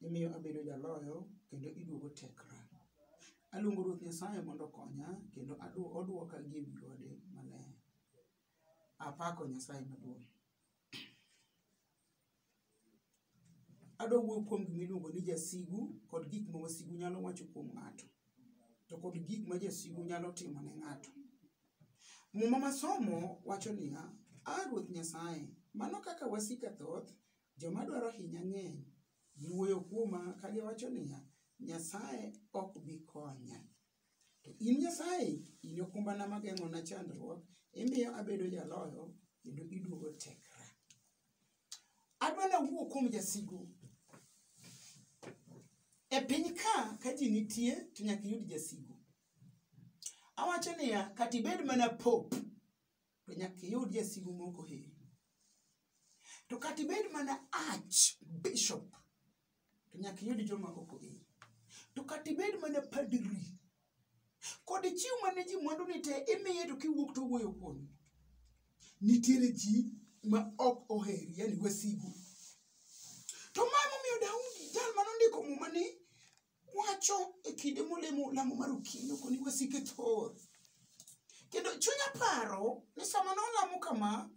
imiyo abedo jaloyo kendo iduogo tekra. Aluongo Ruoth Nyasaye mondo okonya kendo adu- oduoka gi ewi gode maler. Apako Nyasaye maduong'. Adwa wuoyo kuom gima iluongo ni jasigu kod gik ma wasigu nyalo wacho kuom ng'ato, to kod gik ma jasigu nyalo timo ne ng'ato. Muma masomo wacho niya, A Ruoth Nyasaye, mano kaka wasika thoth Joma dwaro hinya ng'eny. Giwuoyo kuoma ka giwacho niya, Nyasaye ok bi konya. To in Nyasaye, in e okumbana ma geng'ona chandruok, imiyo abedo jaloyo, kendo iduogo tekra. Adwa nawuo kuom jasigu. E piny ka, ka ji nitie, to nyaka iyud jasigu. Awacho niya, kata ibed mana pop, to nyaka iyud jasigu moko heri to kata ibed mana arch bishop to nyaka iyud joma ok oheri to kata ibed mana padri kod chiw mane ji mwandu ni te imiye to kiwuok to wuoyo kuom nitiere ji ma ok oheri yani wasigu to ma momiyo daudi jal mane ondiko muma ni wacho e kinde molemo lamo mar okinyo koni wasike thor kendo chunya paro ni sama nolamo kama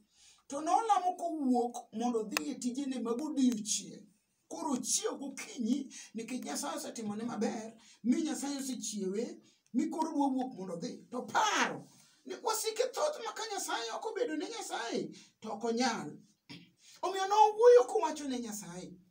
to nolamo kowuok mondo odhi e tijene mag odiechieng' koro ochiew gokinyi nikech nyasaye osetimone maber mi nyasaye osechiewe mi koro dwa wuok mondo odhi to paro ni wasike thoth ma ka nyasaye ok obedo ne nyasaye to ok onyal omiyo nowuoyo kowacho ne nyasaye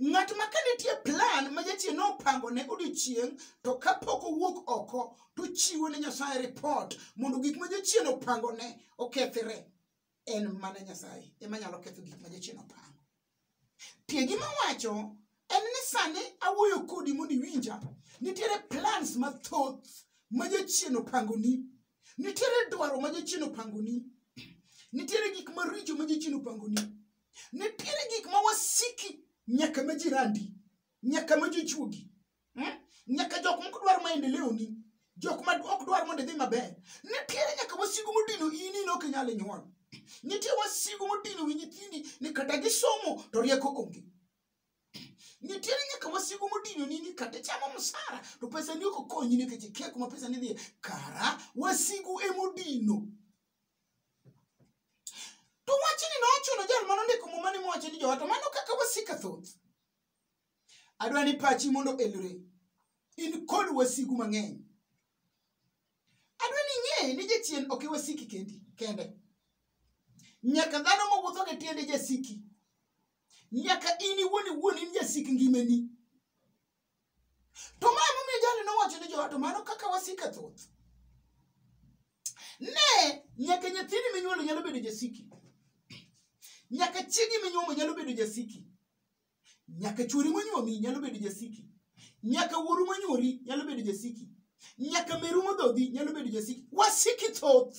ng'at ma ka nitie plan ma jachien nopango ne odiochieng' to kapok owuok oko to chiwo ne nyasaye ripot mondo gik ma jachien opango ne okethre en mana nyasaye ema nyalo ketho gik ma jachien opango tie gima wacho en ni sani awuoyo kodi mondo iwinja nitiere plans mathoth ma jachien opangoni nitiere dwaro ma jachien opangoni nitiere gik maricho ma jachien opangoni nitiere gik ma wasiki nyaka ma jirandi nyaka ma jochuogi hmm? nyaka jok mok dwar maendeleo ni jok ma ok dwar mondo idhi maber nitiere nyaka wasigu modino ini ne ok inyal nyuol nitie wasigu modino wi nyithindi ni kata gisomo to rieko onge nitiere nyaka wasigu modino ni ni kata chamo msara to pesa ni ok okonyi nikech ikia kuma pesa ni dhiye kara wasigu emodino to wachni nochuno jal mane ondiko muma ni mowacho ni jowa to mano kaka wasika thoth adwa ni pachi mondo elre in kod wasigu mang'eny adwa ni ing'e ni jachien ok iwasiki kendi kende nyaka dhano mawuotho gi tiende jasiki nyaka in iwuon iwuon in jasik ngimani to ma emomiyo jali nowacho ni jowato mano kaka wasika thoth ne nyaka nyathini minyuolo nyalo bedo jasiki nyaka chiegi minyuomo nyalo bedo jasiki nyaka chuori monyuomi nyalo bedo jasiki nyaka wuoru monyuoli nyalo bedo jasiki nyaka meru modhodhi nyalo bedo jasiki wasiki thoth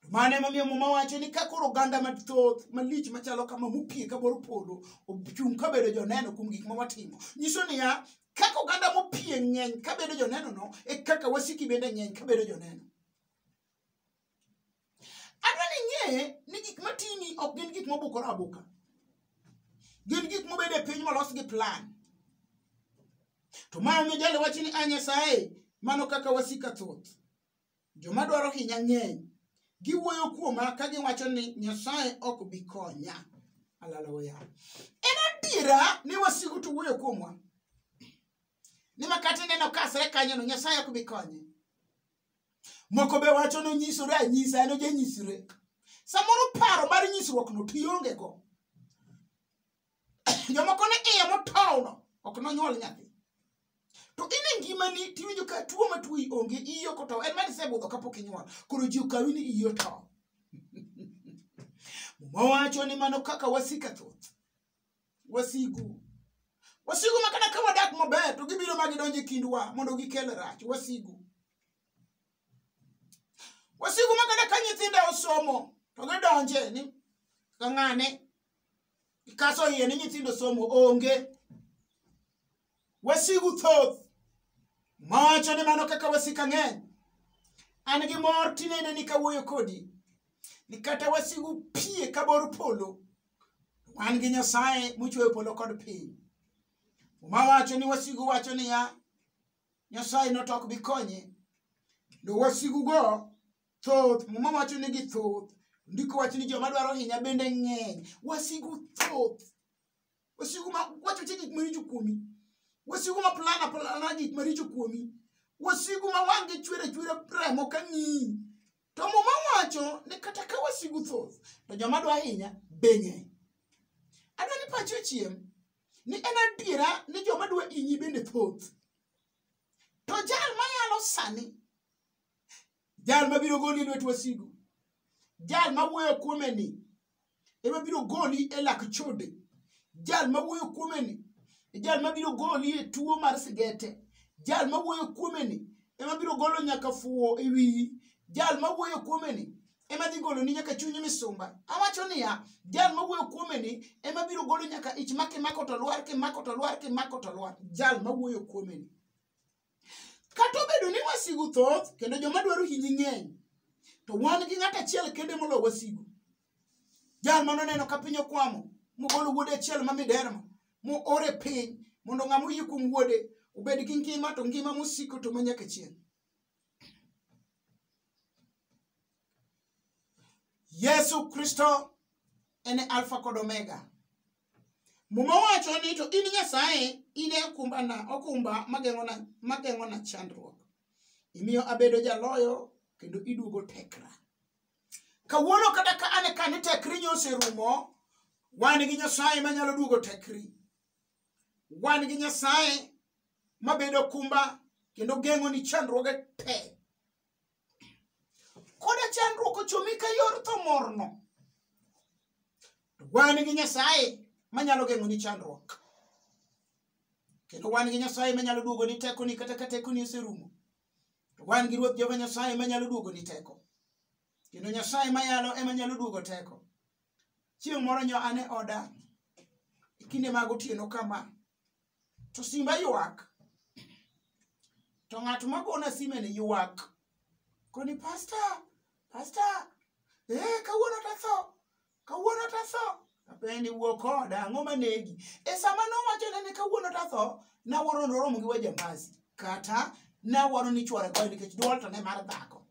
mano emomiyo muma wacho ni ka koro oganda mathoth malich machalo kama mopie ka bor polo ochung' ka bedo joneno kuom gik ma watimo nyiso niya kaka oganda mopie ng'eny ka bedo jonenono e kaka wasiki bende ng'eny ka bedo joneno adwa ni ing'e ni gik matini ok gin gik mobukore abuka gin gik mobedo e piny molos gi plan to ma omiyo jalo wacho ni a nyasaye mano kaka wasika thoth Joma dwaro hinya ng'eny. Giwuoyo kuoma ka giwacho ni Nyasaye ok bi konya. Haleluya. En adiera ni wasigu to wuoyo kuomwa. Ni makata ineno kasre kanyono Nyasaye ok bi konye. Moko be wacho ni onyisore anyisa en ojanyisre. Samoro paro mar nyisruokno to iongego. jomoko ne iye motowno ok nonyuol nyathi to in e ngimani tiwinjo ka tuo ma tuoyi onge iyi ok otow en mani isebudho kapok inyuol koro ji okawi ni iyi otow mowacho ni mano kaka wasika thoth wasigu wasigu ma kata ka wadak maber to gibiro ma gidonjo e kindwa mondo gikel rach wasigu wasigu ma kata ka nyithinda osomo to gidonje ni ka ng'ane Ikaso iye ni nyithindo somo onge. Wasigu thoth mawacho ni mano kaka wasika ng'eny. An gi mor tinene ni kawuoyo kodi ni kata wasigu pie ka bor polo. Wan gi Nyasaye mochweyo polo kod piny. Muma wacho ni wasigu wacho niya, Nyasaye notok bikonye. Kendo wasigugo thoth muma wacho ni gi thoth ndiko wach ni joma dwaro hinya bende ng'eny wasigu thoth wasigu ma wacho che gik maricho kuomi wasigu ma plana plana gik maricho kuomi wasigu ma wang' gi chwere chwere remo ka ng'iyi to muma wacho ni kata ka wasigu thoth to joma dwa hinya be ng'eny adwa ni pachi ochiem ni en adiera ni joma dwa hinyi bende thoth to jal mayalo sani jal mabiro goli e lwet wasigu jal mawuoyo kuome ni ema biro goli e lak chode jal mawuoyo kuome ni jal mabiro goli e tuo mar sigete jal mawuoyo kuome ni ema biro golo nyaka fuwo e wiyi jal mawuoyo kuome ni ema dhi golo ni nyaka chunyi misumba awacho niya jal mawuoyo kuome ni ema biro golo nyaka ich ma kimako to lwar kimako to lwar kimako to lwar jal mawuoyo kuome ni Kata obedo ni wasigu thoth kendo joma dwaro hinyi ng'eny, to wan gi ng'at achiel kende molo wasigu. Jal ma noneno ka piny okwamo, mogolo wuode achiel ma miderma, moor e piny mondo ng'ama oyie kuom wuode obed gi ngima to ngima mosiko to manyaka chieng'. Yesu Kristo en e Alfa kod Omega. Muma wacho ni to in Nyasaye in e okumbana, okumba mageng'ona mageng'ona chandruok. Imiyo abedo jaloyo kendo iduogo tekra. Kawuono kata ka an e ka ni tekri nyoserumo, wan gi Nyasaye manyalo duogo tekri. Wan gi Nyasaye mabedo okumba kendo geng'oni chandruoge te. koda chandruok ochomi ka yor tho morno wan gi nyasaye manyalo geng'oni chandruok kendo wan gi nyasaye manyalo duogoni tekoni kata ka tekoni oserumo to wan gi ruoth jehova nyasaye manyalo duogoni teko kendo nyasaye mayalo ema nyalo duogo teko chieng' moro nyo ane oda e kinde mag otieno kama to simba ywak to ng'at magona simeni ywak koni pasta pasta ee kawuono tatho kawuono tatho apendi wuo koda ang'o manegi e sama nowachone ni kawuono tatho nawuoro noromo gi wajambasi kata nawuoro ni chwore goyo nikech dwol to ne mar dhako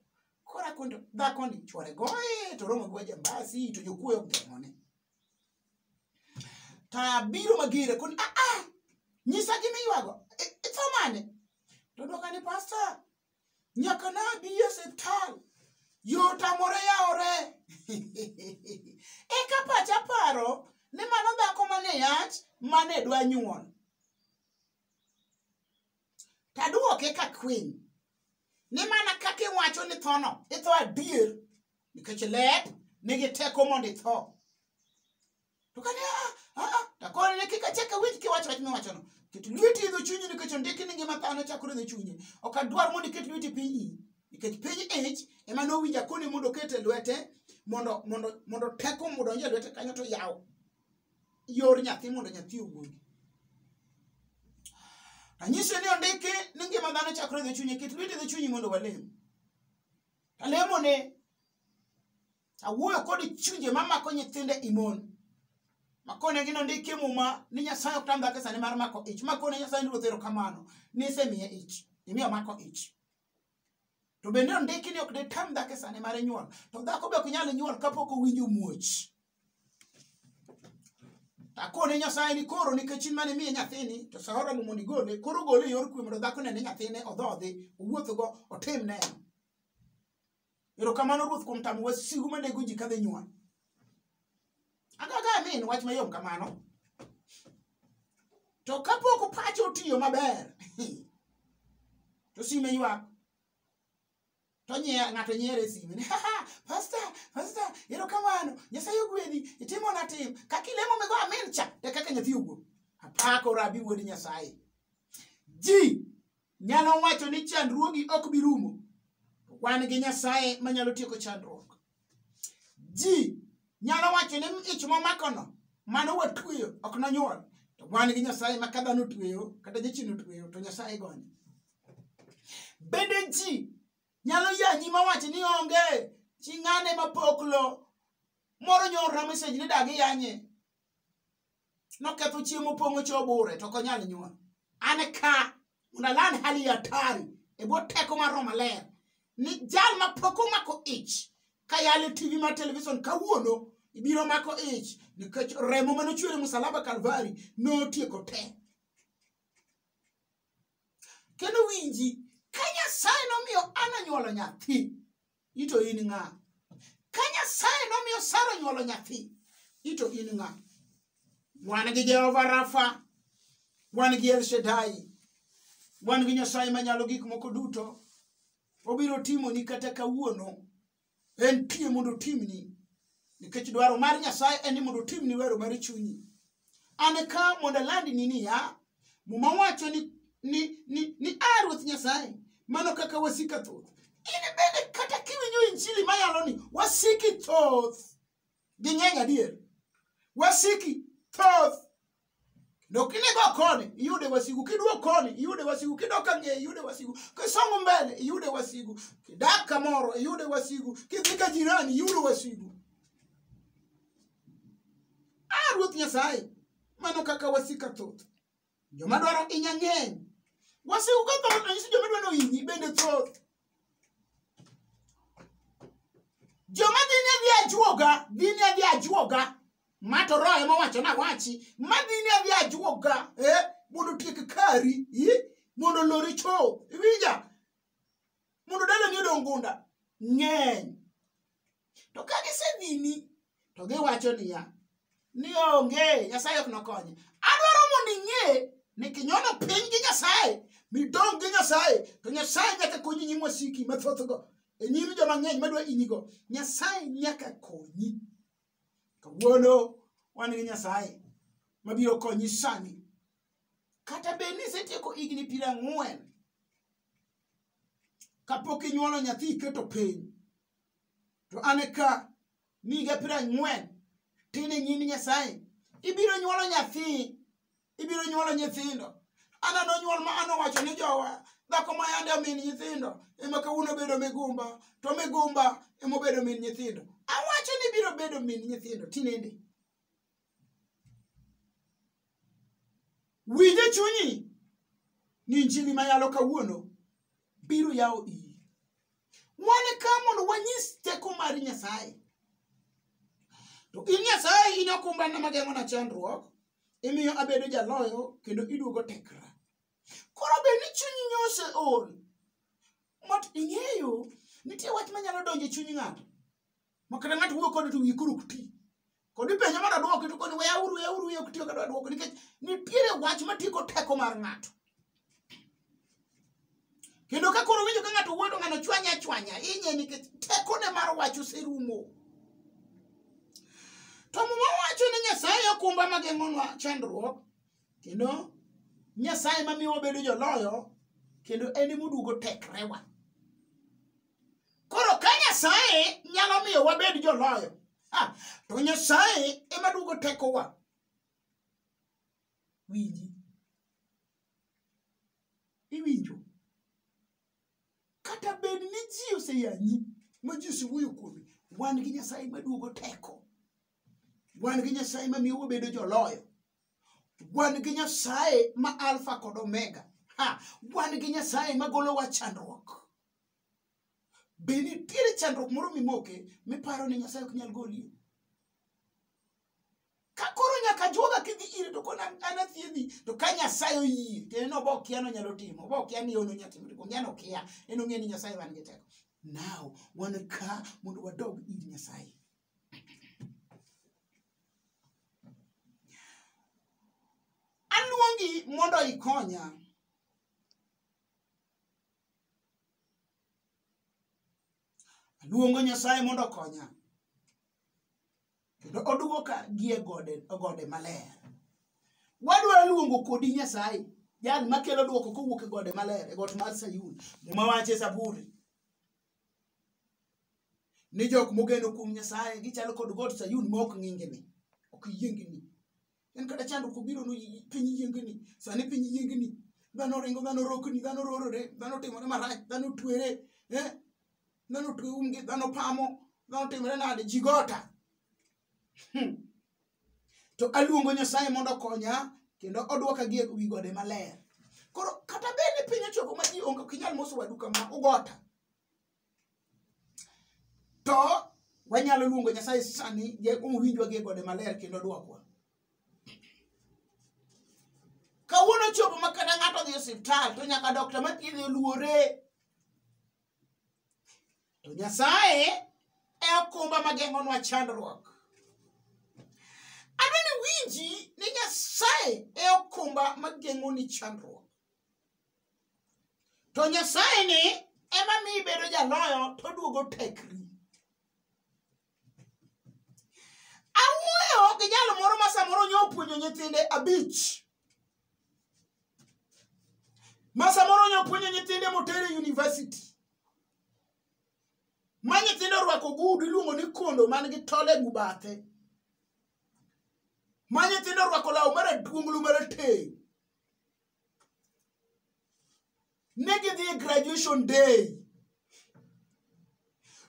kora kundo dhako ni chwore goye to romo gi wajambasi to jokuoyo gemone Taya biro magire kun ah ah nyisa gima iywago itho mane to dwoka ni pasta nyaka nabi e siptal yot amore yawore eka pacha paro ni mano dhako mane yach mane dwa nyuol tadwoke ka kwiny ni mana kaka iwacho ni thono itho adier nikech ler nigi teko mondo itho to kane ah, ah, ah, takoro ne kik achak awinj kiwacho wach miwachono ket lweti idho chunyi nikech ondiki ni ngima dhano chakore idho chunye ok adwar mondo iket lweti piny iyi nikech piny ich ema nowinja koni mondo oket e lwete mondo mondo mondo teko mondo onje lwete kanyo to yaw yor nyathi mondo nyathi owuogi anyise ni ondiki ni ngima dhano chakore idho chunye ket lweti idho chunyi mondo walem Alemone, awuoyo kod chunje ma mako nyithinde imon. Makone gino ndike muma ni Nyasaye ok tam dhako e sane mar mako ich. Makone Nyasaye ni ruoth erokamano ni isemiye ich. Imiyo mako ich. To bende ondiki ni ok ditam dhako e sane mar nyuol. To dhako be ok nyal nyuol kapok owinjo muoch. akone nyasaye ni koro nikech in mane miye nyathini to sahora mo mondo igole koro gole e yor kwe mondo dhako nene nyathine odhodhi owuothgo otim ne erokamano ruoth kuom tamo wasigu manego ji kadhi nyuol agaga min wach mayom kamano to kapok pache otiyo maber to sime ywak to nye- ng'ato nyiero e sime ni "Haha, pasta pasta erokamano nyasaye ogwedhi itimona tim kaka ilemo migo amin cha e kaka nyathi owuok apako rabi wuod nyasaye ji nyalo wacho ni chandruogi ok bi rumo wan gi nyasaye manyalo tieko chandruok ji nyalo wacho ni ich momakono mano watweyo ok nonyuol to wan gi nyasaye ma ka dhano tweyo kata jachien otweyo to nyasaye gonye bende ji nyalo yanyi mawacho ni onge chi ng'ane mapoklo moro nyorra mesej ni dagi yanye noketho chiemo pong'o cho bure to konyal nyuol an ka mondo aland hali ya hatari e bwo teko mar roho maler ni jal ma pok omako ich ka yale tv mar televison kawuono ibiro mako ich nikech remo mane ochwere musalaba kalvari notieko te kendo winji ka nyasaye nomiyo ana nyuolo nyathi ito in ng'a ka nyasaye nomiyo sara onyuolo nyathi ito in ng'a wan gi jehova rafa wan gi elshadai wan gi nyasaye manyalo gik moko duto obiro timoni kata kawuono en pie mondo otimni nikech dwaro mar nyasaye en ni mondo otimni wero mar chunyi an ka mondo alandni niya muma wacho ni, ni, ni, ni a ruoth nyasaye mano kaka wasika thoth in bende kata kiwinjo injili mayalo ni wasiki thoth gi ng'eny adier wasiki thoth kendo kinego koni iyude wasigu kiduok koni iyude wasigu kidok ang'eye iyude wasigu kisongo mbele iyude wasigu kidak kamoro iyude wasigu kidhi ka jirani iyude wasigu Ah, Ruoth Nyasaye, mano kaka wasika thoth. Joma dwaro inya ng'eny. Wasiku ka thoth ranyisi joma dwaro hinyi bende thoth. Joma dhi ni adhi ajuoga, dhi ni adhi ajuoga. Ma to roho ema owacho na wachi, ma dhi ni adhi ajuoga, eh, mondo tiek kari, eh, mondo lori cho, iwinja? Mondo dalani odong gunda, ng'eny. to ka gisedhini to giwacho niya ni onge nyasaye ok nokonye adwaro mondo ing'e ni kinyono piny gi nyasaye midong' gi nyasaye to nyasaye nyaka konyi nyim wasiki mathothgo e nyim joma ng'eny madwa inyigo nyasaye nyaka konyi kawuono wan gi nyasaye mabiro konyi sani kata bed ni isetieko higni piero ang'wen kapok inyuolo nyathi iketo piny to an ka niga piero ang'wen tin e nyim nyasaye ibiro nyuolo nyathi ibiro nyuolo nyithindo ana nonyuol ma an owacho ni jowa dhako ma yande omin nyithindo ema kawuono bedo migumba to migumba ema obedo min nyithindo awacho ni biro bedo min nyithindo tinende winj e chunyi ni injili ma yalo kawuono biro yawo iyi wan ka mondo wanyis teko mar nyasaye to in nyasaye in okumbana mageng'ona chandruok imiyo abedo jaloyo kendo iduogo tekra koro bed ni chunyi nyose ol mot ing'eyo nitie wach manyalo donjo e chuny ng'ato ma kata ng'ato wuoyo kode to wiyi koro ok ti kod ipenjo mondo adwoki to koni weya uru weya uru weya ok tiyo kata adwoko nikech nitiere wach matieko teko mar ng'ato kendo ka koro winjo ka ng'ato wuoyo to ng'ano chwanya chwanya inye nikech tekone mar wach oserumo to muma wacho ni nyasaye okumba mageng'onwa chandruok kendo nyasaye mamiyo wabedo joloyo kendo en emoduogo tekrewa koro ka nyasaye nyalo miyo wabed joloyo ah, to nyasaye ema duogo tekowa winji iwinjo kata bed ni ji oseyanyi ma ji osewuoyo kuome wan gi nyasaye maduogo teko wan gi nyasaye mamiyo wabedo joloyo wan gi nyasaye ma alfa kod omega ha wan gi nyasaye magolowa chandruok be nitiere chandruok moro mimoke miparo ni nyasaye ok nyal golie ka koro nyaka juoga kidhi ire to kona an athiedhi to ka nyasaye oyie kendo en obo okia nonyalo timo obo okia ni ono nyatimo to ongia nokia en ong'e ni nyasaye wan gi teko now wan ka mondo wadog ir nyasaye aluongi mondo ikonya aluongo nyasaye mondo okonya kendo oduoka gie gode gode maler wadwaro luongo kodi nyasaye jal makelo duoko kowuok e gode maler e got mar sayun muma wache zaburi ni jok mogeno kuom nyasaye gichalo kod got sayun ma ok ng'ingini ok yiengini en kata chandruok obiro no piny yiengni sani piny yiengni dhano ringo dhano rokni dhano rorore dhano timore marach dhano twere eh? dhano twe umgi dhano pamo dhano timore nade ji gota hmm. to aluongo nyasaye mondo okonya kendo odwoka gi e wi gode maler koro kata bed ni piny ochoko ma ji onge ok inyal moso wadu kama ugota to wanyalo luongo nyasaye sani jakuong winjwa gi gode maler kendo dwokwa kawuono chopo ma kata ng'ato odhi osiptal to nyaka dokta mathiedhe oluore to nyasaye e okumba mageng'onwa chandruok adwa ni winji ni nyasaye e okumba mageng'oni chandruok to nyasaye ni ema mi ibedo jaloyo to duogo tekri awuoyo gi jalo moro ma samoro nyo opuonjo nyithinde abich ma samoro nyo opuonjo nyithinde motere university ma nyithindo orwako gudu iluongo ni kondo man gi tole e gubathe ma nyithindo orwako law maraduonglu marateng ne gidhi e graduation day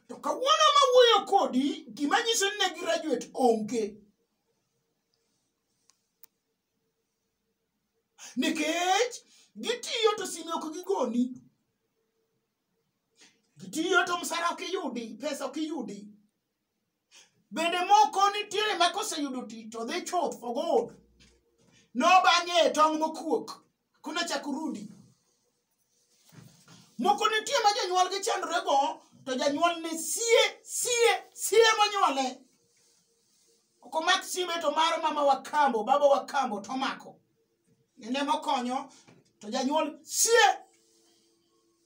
to kawuono ma wuoyo kodi gima nyiso ni ne graduate onge nikech gitiyo to sime ok gigoni gitiyo to msara ok iyudi pesa ok iyudi bende moko nitiere ma koseyudo tich to dhi chuth for gold nobang'e e tong' mokuok kuna chak rudi moko nitie ma jonyuol gi chandore go to janyuol ne sie sie sie monyuole ok omak simbe to mar mama wakambo baba wakambo to omako en ema okonyo to janyuol sie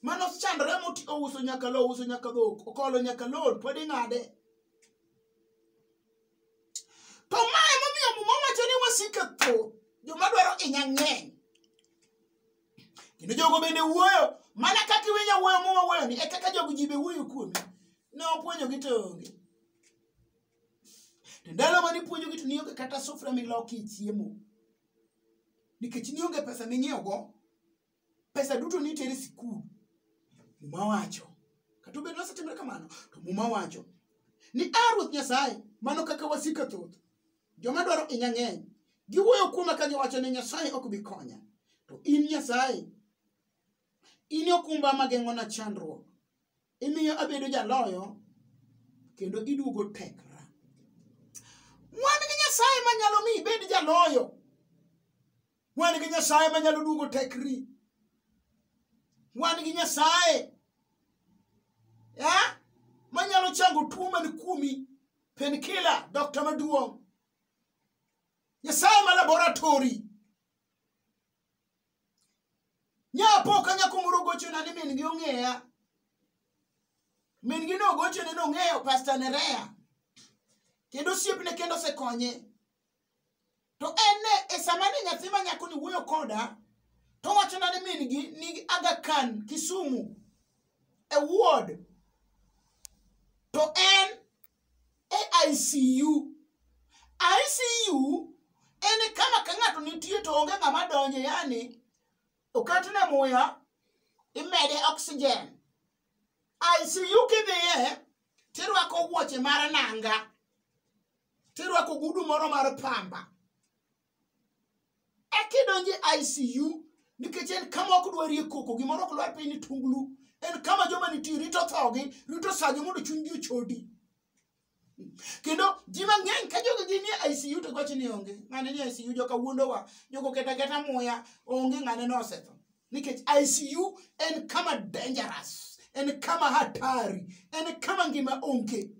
mano chandore moti ouso nyaka lo ouso nyaka dhok okolo nyaka lon pod ing'ade to ma emomiyo muma wacho ni wasike tho joma dwaro inya ng'eny kendo jogo bende wuoyo mana kaka iwinyo wuoyo muma wuoyoni e kaka jogo ji be wuoyo kuomi ne opuonjogi to onge to ndalo mane ipuonjogi to nionge kata sufria milokie chiemo nikech nionge pesa ming'iewogo pesa duto nitere sikul muma wacho kata obedo nosetimre kamano to muma wacho ni a ruoth nyasaye mano kaka wasika thoth joma dwaro inya ng'eny giwuoyo kuoma ka giwacho ni nyasaye ok bi konya to in nyasaye In e okumba ma geng'ona chandruok, imiyo abedo jaloyo, kendo iduogo tekra. Wan gi Nyasaye ma nyalo mi ibed jaloyo. Wan gi Nyasaye ma nyalo duogo tekri. Wan gi Nyasaye eh, ma nyalo chango tuo man kuomi, penkila, dokta maduong'. Nyasaye ma laboratori. nyapoka nyako moro gochona ni min gi ong'eya min gi nogochone nong'eyo pasta nerea kendo osiepne kendo osekonye to en ne e sama ni nyathi ma nyako ni wuoyo koda to wachona ni min gi nigi aga khan kisumu e ward to en e ICU. ICU en kama ka ng'ato nitie to onge ng'ama donje yani oketne muya imede oxygen. ICU kidhiye tirwako wuoche mar nanga tirwako gudu moro mar pamba ekidonje ICU nikech en kama ok dwarie koko gimoro ok lwar piny ni tunglu en kama joma nitie rito thogi rito sagi mondo chunygi ochodi kendo ji mang'eny ka jogo gin e ICU to gochi ni onge ng'ane ni ICU joka wuondowa jogo keta keta muya onge ng'ane ni osetho nikech ICU en kama dangerous en kama hatari en kama ngima onge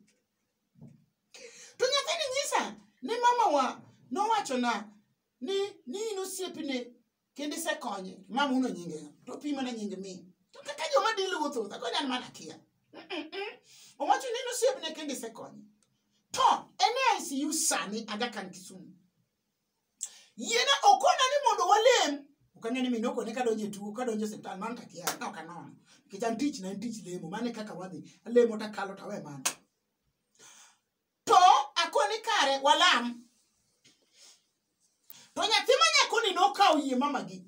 to nyathini nyisa ni mamawa nowachona ni ni in osiepne kendo isekonye mama uno nyinge to pi mana nyinge mi to kaka joma dil wuotho wuotho koni an mana kia owacho ni in osiepne kendo isekonye to en e ICU sani Aga Khan Kisumu yiena okona ni mondo walem ok ang'e ni minoko ne kadonjo e tuo kadonjo e osiptal mano takia ka ok anono nikech an tich na en tich lemo mano e kaka wadhi alemo takalo tawe mano to akoni kare walam to nyathi ma nyakoni nokawo yie mamagi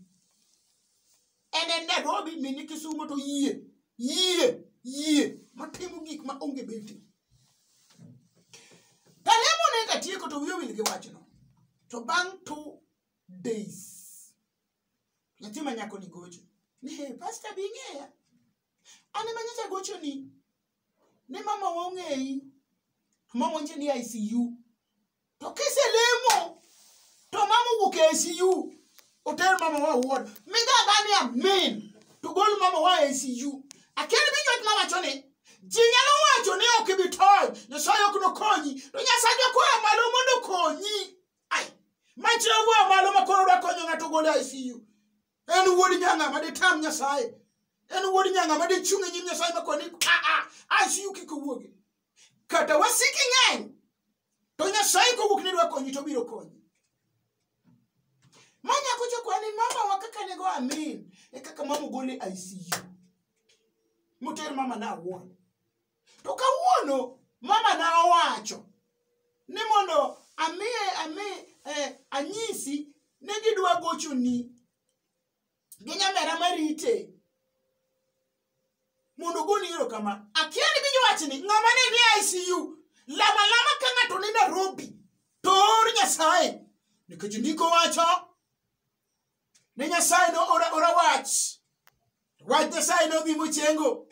en e Nairobi mini Kisumo to yie yie yie matimo gik ma onge beti Kalemo ne katieko to wiye wil gi wachno to bang' two days nyathi ma nyako ni gocho ni hey, pasta bi ng'eya an ema nyocha gocho ni ne mama wa ong'eyi mama onje ni ICU to kiselemo to mama owuok e ICU oter mama wa ward migaga ni amin to gol mama wa e ICU akia ni minyot mama choni ji nyalo wacho ni ok ibi tony nyasaye ok nokonyi to nyasaye jakwayo malo mondo okonyi ai machiegwa malo ma koro dwa konyo ng'ato gol e ICU en wuod nyanga ma ditam nyasaye en wuod nyanga ma dichung' e nyim nyasaye ma koni aa ICU kik owuogi kata wasiki ng'eny to nyasaye kowuok ni dwa konyi to obiro konyi ma nyako chokwani mamawa kaka nego amin e kaka mama ogole icu moter mama na awuon to kawuono mama na owacho ni mondo amiye ami eh, anyisi ne gidwa gochoni gi nyamera marite mondo ogoni ero kama akia ni winjo wachni ng'ama ne ni ICU lama lama ka ng'ato ni Nairobi to or Nyasaye nikech ndiko wacho ne Nyasaye no ora, ora wach wach Nyasaye no dhi mochengo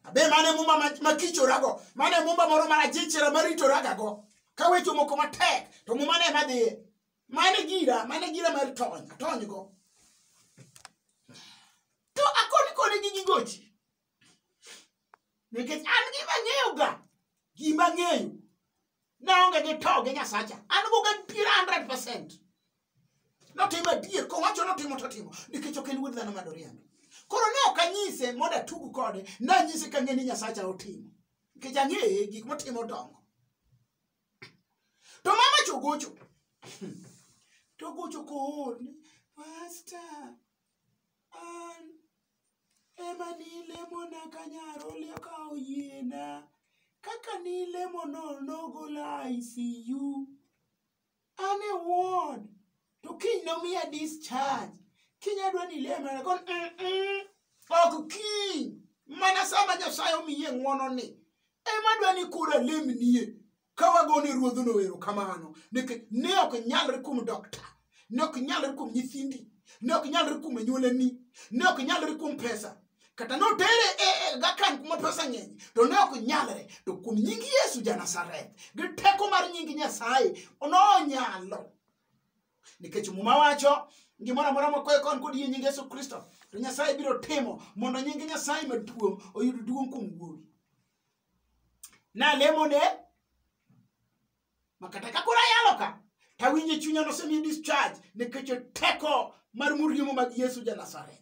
abe mane mumba ma- makichorago mane mumba moro marajichera maritoragago ka weche moko matek to muma ne madhiye mano e gira mano e gira mar tony atonygo to akoni koni gi gigochi nikech an gima ng'eyoga gima ng'eyo naonge gi to gi nyasacha an goga piero 100 percent notimo adier kowacho notimo totimo nikech ok en wuod dhano ma doriambi koro ne ok anyise mondo atug kode nanyise kang'e ni nyasacha otimo nikech ang'eye gik motimo dongo to mama chogocho togocho kool ni pasta an ema nilemona kanyaro leo ka oyiena kaka nilemono nogola ICU an e ward to kiny nomiya discharge kiny adwa ni ile mana kon "Mm-mm, ok kiny mana sama nyasaye omiye ng'wononi ema adwa ni koro alemnie ka wagone ruodhno ero kamano nikech ne ok nyalre kuom dokta ne ok nyalre kuom nyithindi ne ok nyalre kuom anyuolani ne ok nyalre kuom pesa kata notere e e, gakan kuma pesa ng'eny to ne ok nyalre to kuom nying yesu janasareth gi teko mar nying nyasaye nonyalo nikech muma wacho gimoro amora mokwayo kon kod yie nying yesu kristo to nyasaye biro timo mondo nying nyasaye maduong' oyud duong' kuom wuowi nalemone makata ka koro ayalo ka tawinjo e chunya nosemi discharge nikech teko mar muriemo mag yesu ja nazareth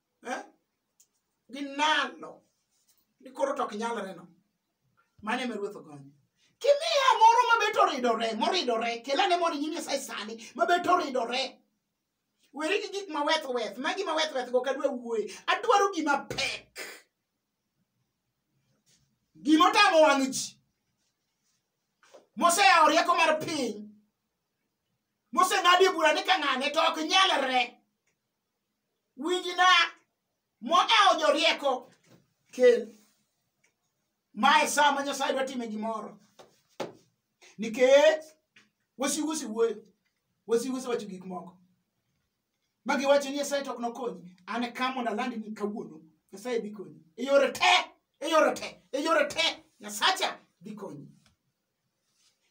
eh? ginano ni koro to ok nyalre no mane me ruoth ogonyo kimiya moro mabet oridore moridore kelane mondo nyim nyasaye sani mabet oridore weri gi gik maweth weth ma gima weth weth go kadwa wuoye adwaro gima pek gima otamo wang' ji moseyawo rieko mar piny moseng'adie bura ni ka ng'ane to ok nyalre winjna modewo jorieko kel mae saa ma nyasaye dwa time gimoro nikech wasigu osewuoyo wasigu osewacho gik moko ma giwacho ni nyasaye to ok nokonyi an e ka mondo alandi ni kawuono nyasaye dhi konyi e yore te e yore te e yore te nyasacha dhi konyi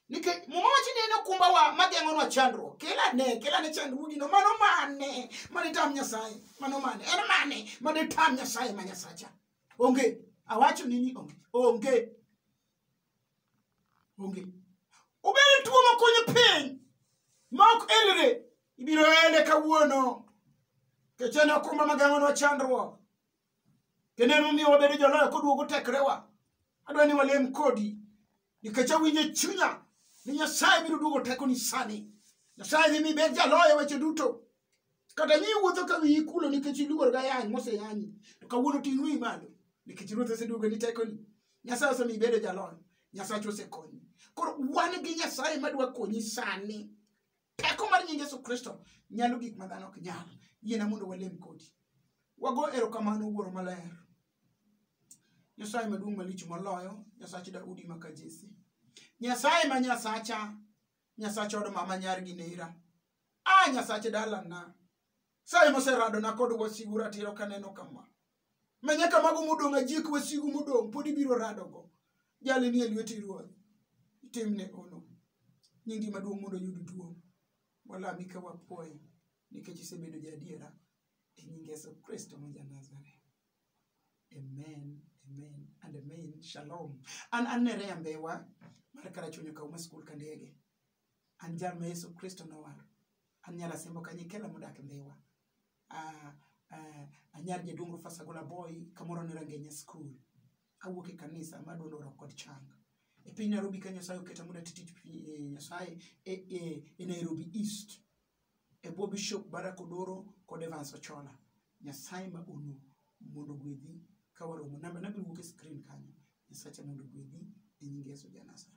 nikech muma wacho ni en okumbawa mageng'onwa chandruok kelane kelane chandruogino mano mane mane tam nyasaye mano mane en mane mane tam nyasaye ma nyasacha onge awacho ni ni onge onge onge obedo tuo makonyo piny ma ok elre ibiro ele kawuono kech en okumba mageng'onwa chandruok kendo en momiyo wabedo joloyo koduogo tekrewa adwa ni walem kodi nikech awinjo e chunya ni nyasaye biro duogo tekoni sani nyasaye dhi mi bed jaloyo e weche duto kata ni iwuotho ka wiyi kulo nikech iluor ga yany moseyanyi to kawuono ting' wiyi malo nikech ruoth oseduogo ni tekoni nyasaye osemiyo ibedo jaloyo nyasachu osekonyi koro wan gi nyasaye madwa konyi sani teko mar nying yesu kristo nyalo gik ma dhano ok nyal yiena mondo walem kodi wago erokamano wuoro maler nyasaye maduong' malich moloyo nyasach daudi maka jesi nyasaye ma nyasacha nyasach od mama nyar gi nera a nyasach dalana Saye moseradona kod wasigu ratiro kaneno kama. Manya kamago modong' ajik wasigu modong' pod ibiro radogo. Jali nie lweti ruoth. Timne ono. Nyingi maduong' mondo yud duong'. Walami ka wapuoyi nikech isebedo jaadiera e nying Yesu Kristo ma Janazareth. Amen, amen, and amen. Shalom. An an Nerea Mbewa mar Karachuonyo Kauma School Kandege. an jal ma yesu kristo nowaro an nyar asembo kanyikela modak e ndhiwa Ah, ah, anyar jaduong' rufasagola boy kamoro ne rangenya skul awuok e kanisa ma duond oro kod chang e piny nairobi ka nyasaye oketa mondo ati tich pi- eh, nyasaye e, e, e nairobi east e bwo bishop barak odoro kod evans ochola nyasaye ma unu mondo gwedhi ka waromo namba nabiro wuok e screen kanyo nyasacha mondo gwedhi e nying yesu janasare